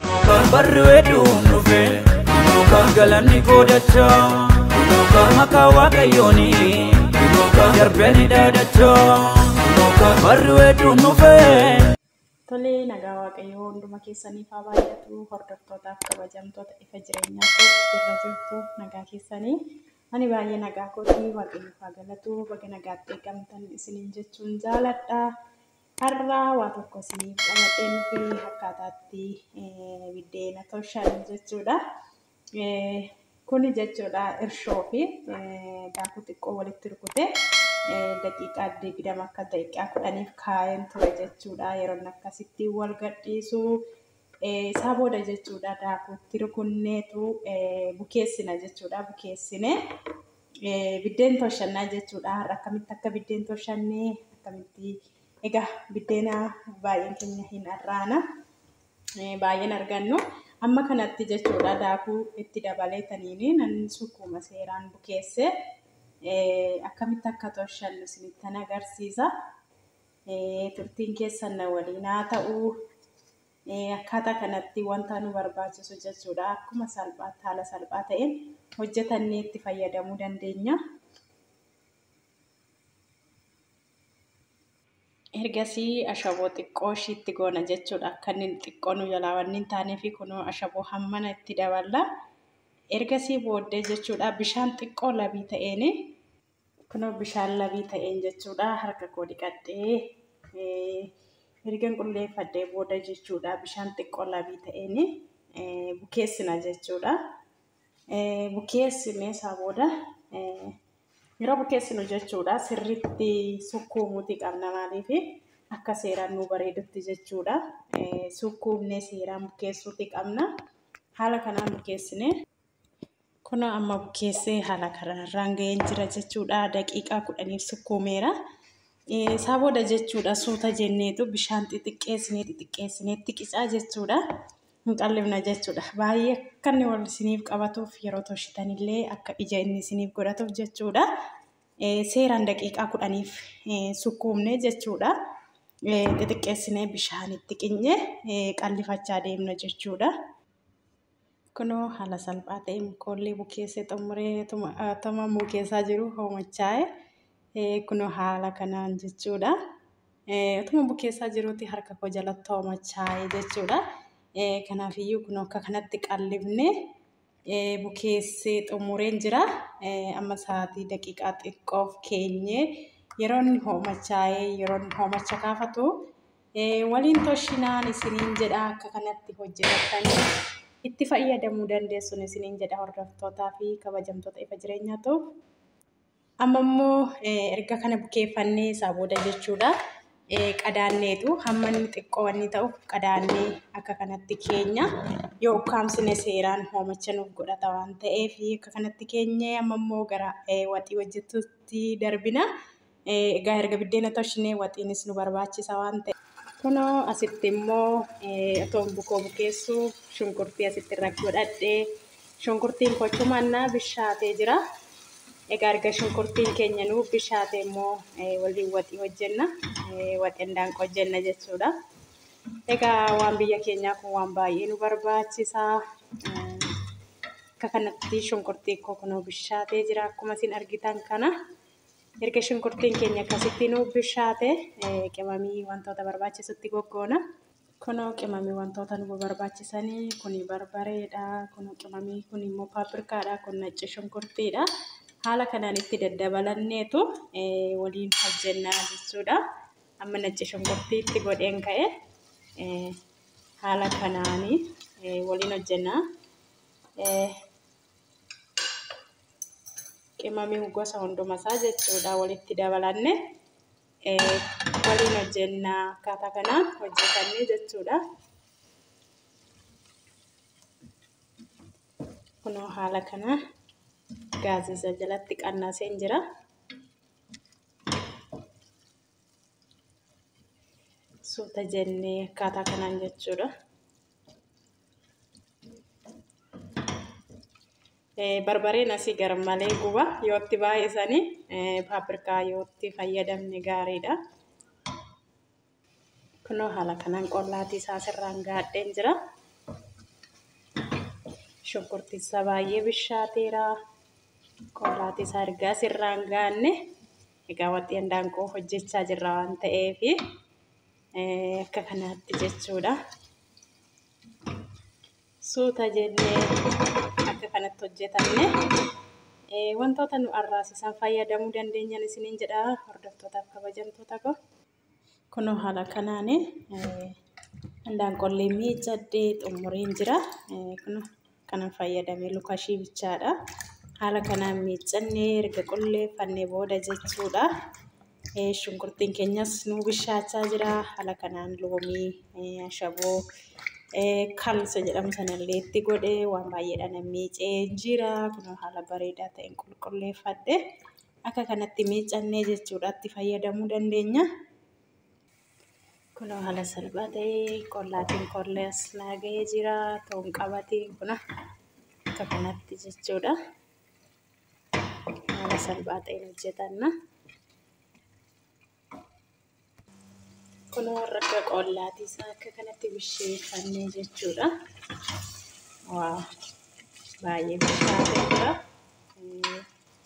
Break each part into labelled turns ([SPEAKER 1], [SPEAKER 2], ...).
[SPEAKER 1] Kan barri weedduun dhufe kan galanni goodacha kan maqaa waaqayyooni kan darbeni dhaadacha kan barri weedduun dhufe. Tolee
[SPEAKER 2] nagaa waaqayyoo hunduma keessaniif haa baay'atu hordoftootaaf kabajamtoota ifa jireenyaa kootti jirra jirtu nagaa keessanii ani baay'ee nagaa kootii waaqayyoo haa galatu baga nagaatti eegamtan isiniin jechuun jaaladha. Har'a waa tokko isiniif qabadheen dhufee akkaataatti biddeena toshan jechuudha. Kuni jechuudha irshoo fi daakuu xiqqoo walitti rukutee daqiiqaa digdama akka daqiiqaa kudhaniif kaa'een ture jechuudha. Yeroon akkasitti wal gadhiisu isaa booda jechuudha daakuutti rukunneetu bukeessina jechuudha. Bukeessinee Biddeen tolshannaa jechuudha. Har'a akkamitti akka biddeen tolshannee akkamitti egaa biddeena baay'een keenya hin arraana. Baay'een argannu. Amma kanatti jechuudha daakuu itti dabalee taniini nan sukkuuma seeraan bukeessee akkamitti akka tolshannu isinittan agarsiisa. Turtiin keessan na waliin haa ta'u. Akkaataa kanatti wanta nu barbaachisu jechuudha akkuma salphaatti haala salphaa ta'een hojjetannee itti fayyadamuu dandeenya. Ergasii ashaboo xiqqoo ishii itti goona jechuudha. Akka inni xiqqoo nu jalaa waan hin taaneef kunoo ashaboo hammana itti daballa. Ergasii booddee jechuudha bishaan xiqqoo labii ta'een Kunoo bishaan labii ta'een jechuudha harka koo dhiqadhee ergan qulleeffadhee booda jechuudha bishaan xiqqoo labii ta'een bukeessina jechuudha. Bukeessinee isaa booda yeroo bukeessinu jechuudha sirriitti sukkuumuuti qabna maaliif akka seeraan nu bareedutti jechuudha. Sukkuumnee seeraan bukeessuuti qabna. Haala kanaan bukeessinee. Kunoo amma bukeessee haala kanarraan ga'een jira jechuudha. Daqiiqaa kudhaniif sukkuumeera. Isaa booda jechuudha suuta jenneetu bishaan xixiqqeessinee xixiqqeessinee itti qicaa jechuudha. Hin qallifna jechuudha. Baay'ee akka inni wal isiniif qabatuuf yeroo toshitanillee akka ija inni isiniif godhatuuf jechuudha. Seeraan daqiiqaa kudhaniif sukkuumne jechuudha. Xixiqqeessinee bishaan itti qinyee qallifachaa deemna jechuudha. Kunoo haala salphaa ta'een koollee bukeessee xumuree tuma atama mukeessaa jiru hoomachaa'e. Eh, Kunoo haala kanaan jechuudha. Eh, Utuma bukeessaa jiruutti harka koo jalatti hoomachaa'e jechuudha. Eh, Kanaafiyyuu kunoo akka kanatti qallifnee eh, bukeessee xumureen jira. Eh, Amma sa'aatii daqiiqaa xiqqoof keenyee yeroo inni hoomachaa'ee yeroo inni hoomacha kaafatu waliin toshinaan isiniin jedha akka kanatti hojjetattanii itti fayyadamuu dandeessun isiniin jedha hordoftootaa fi kabajamtoota ifa jireenyaa ta'u. Amma immoo erga kana bukeeffannee isaa booda jechuudha. Qadaanneetu hamma inni xiqqoo inni ta'u qadaannee akka kanatti keenya yoo ukkaamsine seeraan hoomacha nuuf godhata waan ta'eef akka kanatti keenyee amma immoo gara waxii hojjetutti darbina. Egaa erga biddeena toshnee waxiinis nu barbaachisa waan ta'e. Kunoo asitti immoo otoon bukoo bukeessu shunkurtii asitti irra godhadhe. Shunkurtiin koo chumannaa bishaatee jira. Egaa erga shunkurtiin keenya nu bishaatee immoo waliin waxii hojjenna. Waxeen daanqa hojjenna jechuudha. Egaa waan biyya keenyaa kun waan baay'ee nu barbaachisa. Akka kanatti shunkurtii koo kunoo bishaatee jira akkuma isin argitan kana. Erga shunkurtiin keenya akkasitti nu bishaate qimamii wantoota barbaachisutti goggoona. Kunoo qimamii wantoota nu barbaachisanii kun barbareedha, kun qimamii kun immoo paapirkaadha, kun nacci shunkurtiidha. Haala kanaan itti daddabalanneetu waliin hojjennaa jechuudha. Amma nacci shunkurtii itti godheen ka'e haala kanaan waliin hojjennaa. qimamii gosa hundumasaa jechuudha walitti dabalanne waliin hojjenna akkaataa kanaan hojjetanne jechuudha. Kunoo haala kana gaazisa jalatti qannaseen jira. Suuta jennee akkaataa kanaan jechuudha. barbareen asii garmalee guba yoo itti baay'isanii paapirkaa yoo itti fayyadamne gaariidha. Kunoo haala kanaan qollaatii isaa sirraan gaadheen jira. Shunkurtii isaa baay'ee bishaateera. Qollaatii isaa ergaa sirraan gaanne egaa waxii handaaqqoo hojjechaa jirra waan ta'eefi. akka kanaatti jechuudha. Suuta jennee akka kanatti hojjetamne wantoota nu arraasisan fayyadamuu dandeenyan isiniin jedha hordoftootaaf kabajamtoota koo. Kunoo haala kanaan handaan qollee miiccadhee xumureen jira. Kunoo. kanan fayyadame lukashii bichaadha. Haala kanaan miiccannee erga qulleeffannee booda jechuudha. Shunkurtiin keenyas nu bishaachaa jira. Haala kanaan loomii ashaboo kalsa jedhamu sanallee itti godhe waan baay'eedha nan miicee jira. Kunoo haala bareedaa ta'een qulqulleeffadhe. Akka kanatti miiccannee jechuudha itti fayyadamuu dandeenya. Kunoo haala salphaa ta'e qollaatiin qollee as naa ga'ee jira. Toon qabatiin kuna akka kanatti jechuudha. Haala salphaa ta'een hojjetanna. Kunoo rakka qollaatii isaa akka kanatti bisheeffannee jechuudha. Waa baay'ee bishaatee jira.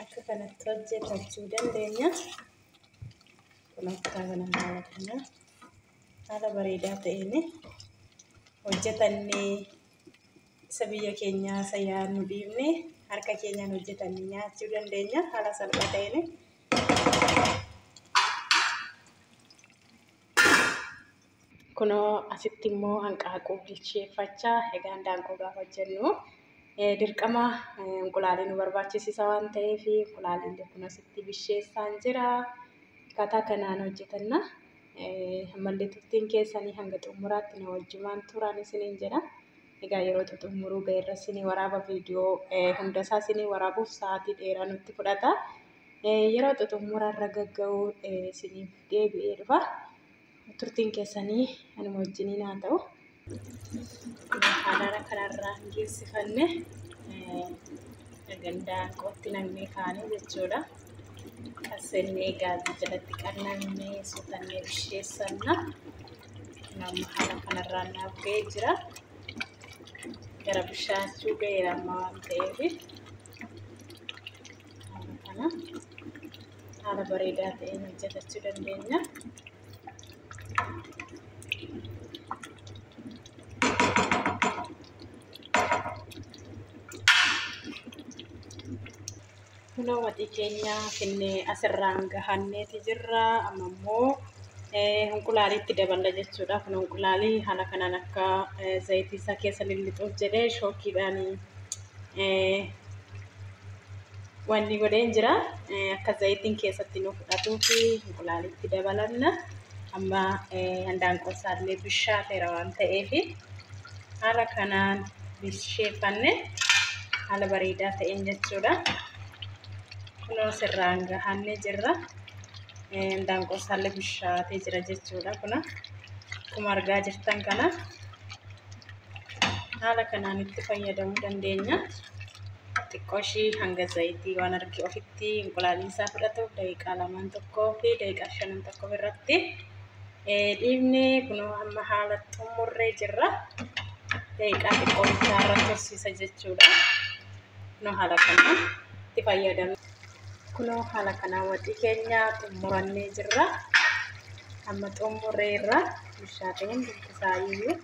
[SPEAKER 2] akka kanatti hojjetachuu dandeenya. Kun akka kana haala kana haala bareedaa ta'een hojjetannee isa biyya keenyaa isa yaadnu dhiibne harka keenyaan hojjetannee nyaachuu dandeenya haala salphaa ta'een. Kunoo asitti immoo hanqaaquu bilcheeffachaa egaa handaanqoo gaafa hojjennu eh, dirqama eh, inqulaalii nu barbaachisisa waan ta'eef inqulaaliillee kun asitti bisheessaan jira. Akkaataa kanaan hojjetanna. Eh, Ammallee turtiin keessanii hanga xumuraatti na wajjumaan turaan isiniin jedha. Egaa yeroo xumuruu ga'eerra isinii waraaba viidiyoo eh, hundasaa isinii waraabuuf sa'aatii dheeraa nutti fudhata. Eh, Yeroo xumuraarra gagga'uu eh, isiniif deebi'ee dhufa. turtiin keessanii anuma wajjiniin haa ta'u. Haalaara kanarraa hin geessifanne gandaa qootti namnee kaane jechuudha. Qassennee gaazii jalatti qannannee suutannee bisheessanna. Namni haala kanarraa naaf ga'ee jira. Gara bishaachuu ga'eera amma waan ta'eef. haala kana haala bareedaa ta'een hojjetachuu dandeenya. Kunoo waxii keenya finne asirraan gahanneeti jirra. Amma immoo hinqulaaliitti daballa jechuudha. Kun hinqulaalii haala kanaan akka zayitii isaa keessa lillixuuf jedhee shookiidhaan wanni godheen jira akka zayitiin keessatti nu fudhatuu fi hinqulaalitti dabalanna amma handaanqoo isaallee bishaateera waan ta'eef haala kanaan bisheeffanne haala bareedaa ta'een jechuudha kunoo sirraan gahanne jirra handaanqoo isaallee bishaatee jira jechuudha kuna akkuma argaa jirtan kana haala kanaan itti fayyadamuu dandeenya. Xiqqoo ishii hanga zayitii waan argee ofitti inqulaaliin isaa fudhatuuf daqiiqaa lamaan tokkoo fi daqiiqaa shanan tokko irratti dhiibnee kunoo amma haala xumurree jirra. Daqiiqaa xiqqoo isaa irratti horsiisa jechuudha. Kunoo haala kanaan itti fayyadamna. kunoo haala kanaa waxii keenya xumurannee jirra amma xumurree irra bishaatee hundi isaa iyyuu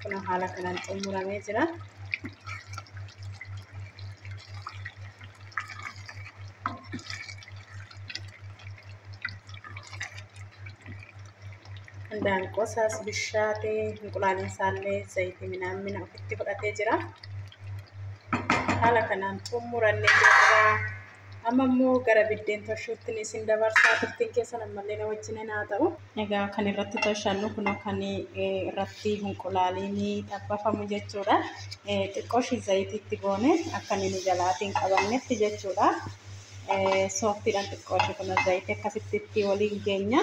[SPEAKER 2] kunoo haala kanaan xumuramee jira Handaanqoo isaas bishaatee hinqulaaliin isaallee zayitii minaan mina ofitti fudhatee jira. Haala kanaan xumurannee jirra. Amma immoo gara biddeen toshuutti ni isin dabarsaa turtiin keessan ammallee na wajjin haa ta'u. Egaa kan irratti toshannu kun kan irratti hinqulaaliin xabbafamu jechuudha. Xiqqoo ishii zayitiitti goone akka inni nu jalaatiin qabannetti jechuudha. sooftiidhaan xiqqoo ishee kana zayitii akkasitti itti waliin geenya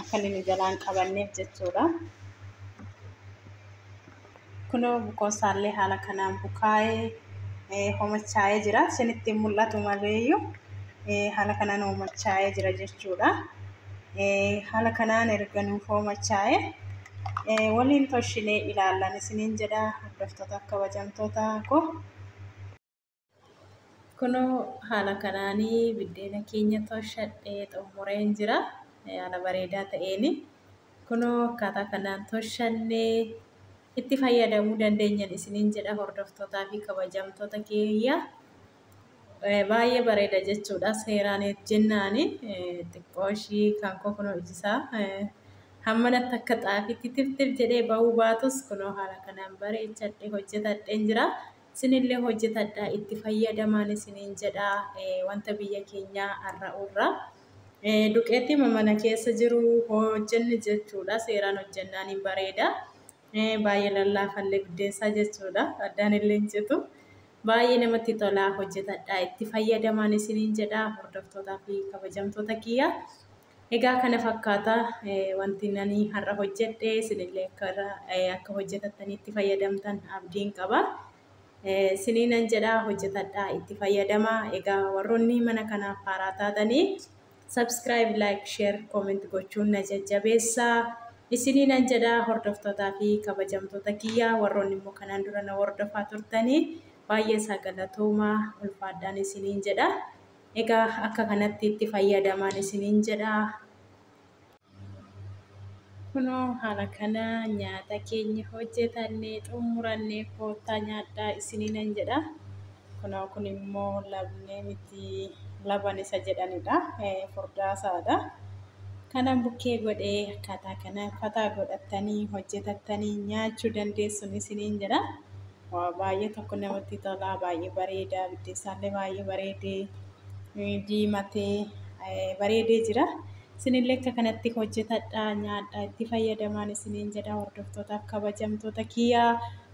[SPEAKER 2] akka inni nu jalaan qabanneef jechuudha. Kunoo bukoon isaallee haala kanaan bukaa'ee homachaa'ee jira. Isinitti hin mul'atu maleeyyuu haala kanaan homachaa'ee jira jechuudha. Haala kanaan erga nuuf homachaa'ee waliin toshinee ilaallan isiniin jedha hordoftoota kabajamtoota koo. Kunoo haala kanaan biddeena keenya tolchadhee xumureen jira. Haala bareedaa ta'een kunoo akkaataa kanaan tolchannee itti fayyadamuu dandeenyan isiniin jedha hordoftootaa fi kabajamtoota keeyya. Baay'ee bareeda jechuudha seeraan jennaan xiqqoo ishii kan koo kunoo ijisaa hammanatti akka xaafiitti tiftif jedhee ba'uu baatus kunoo haala kanaan bareechadhee hojjetadheen jira. Isinillee hojjetadhaa itti fayyadamaan isiniin jedha wanta biyya keenyaa arra'u irra duqeettiima mana keessa jiru hojjenne jechuudha seeraan hojjennaan hin bareeda baay'ee lallaafallee buddeessaa jechuudha addaan illee hin citu baay'ee namatti tolaa hojjetadhaa itti fayyadamaan isiniin jedha hordoftootaa fi kabajamtoota kiyya Egaa kana fakkaata wanti ani har'a hojjedhe isinillee akka irra akka hojjetattanii itti fayyadamtan abdiin qaba. Isiniinan jedha hojjetadhaa itti fayyadama. Egaa warroonni mana kanaaf haaraa taatanii subscribe, like, share, comment gochuun na jajjabeessa. Isiniinan jedha hordoftootaa fi kabajamtoota kiyya warroonni immoo kanaan dura na hordofaa turtanii baay'ee isaa galatooma ulfaadhaan isiniin jedha. Egaa akka kanatti itti fayyadamaan isiniin jedha. Kunoo haala kana nyaata keenya hojjetannee xumurannee koottaa nyaadhaa isiniinan jedha. Kunoo kun immoo labnee miti laban isa jedhanidha. Furdaasaadha. Kanan bukkee godhee akkaataa kanaan fataa godhattanii hojjetattanii nyaachuu dandeessun isiniin jedha. Waa baay'ee tokko namatti tolaa baay'ee bareedaa biddeessaallee baay'ee bareedee eh, diimatee eh, bareedee jira. Isinillee akka kanatti hojjetadha nyaadha itti fayyadamaan isiniin jedha hordoftootaaf kabajamtoota kiyyaa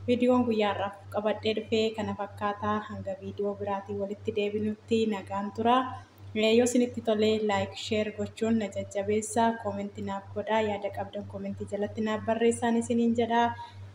[SPEAKER 2] viidiyoon guyyaa har'aaf qabadhee dhufee kana fakkaataa hanga viidiyoo biraatiin walitti deebinutti nagaan tura. Eh, Yoo isinitti tole laayik sheer gochuun na jajjabeessa koomentii naaf godhaa yaada qabdan koomentii jalatti naaf barreessaan isiniin jedha.